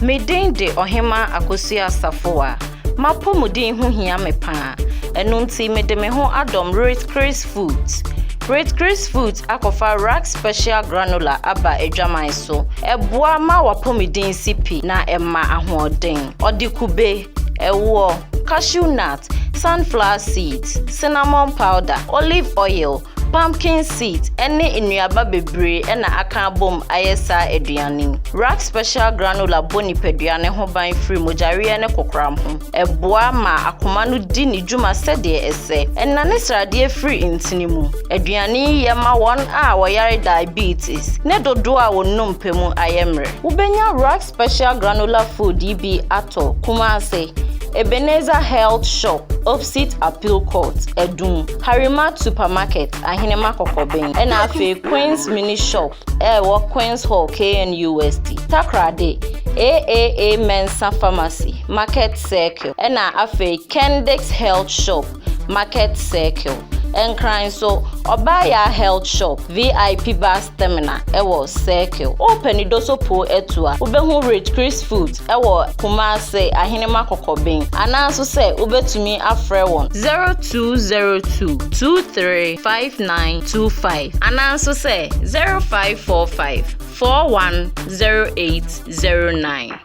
Me din de Ɔhemmaa Akosua Asafoa. M'apɔmuden ho hia me paa. Ɛno nti mede me ho adɔm Ritgris Foods. Ritgris Foods akɔfa Rack Special Granola aba adwaman so. Ɛboa ma w'apɔmuden si pi na ɛma ahoɔden. Ɔde kube. Ɛwoɔ, cashew nut, sunflower seeds, cinnamon powder, olive oil, pumpkin seeds ne nnuaba bebree na aka abom ayɛ saa aduane yi. Rack Special Granola bɔ nipadua no ho ban firi mogyaweɛ ne kokoram ho. Ɛboa ma akoma no di ne dwuma sɛdeɛ ɛsɛ. Ɛnane sradeɛ firi ntini mu. Aduane yi yɛ ma wɔn a wɔyare diabetes ne dodoɔ a wɔnom pɛ mu ayɛ mmerɛ. Wobɛnya Rack Special granular food yi bi atɔ Kumase, Ebenezer Health Shop opposite Appeal Court, Adum, Harimat Supermarket, Ahenema Kɔkɔben, ɛna afei Queens Mini Shop a ɛwɔ Queens Hall, KNU West, Takoradi, AAA Mensah Pharmacy, Market Circle, ɛna afei Kendix Health Shop. Market Circle. Nkran nso, Ɔbaayaa Health Shop, VIP Bus Terminal wɔ Circle. Wopɛ Nidoso Poo atu a, wobɛhu Rich Chris Foods wɔ Kumase, Ahenema Kɔkɔben, anaaso sɛ wobɛtumi afrɛ wɔn, 0202 235925 anaaso sɛ 0545 410809.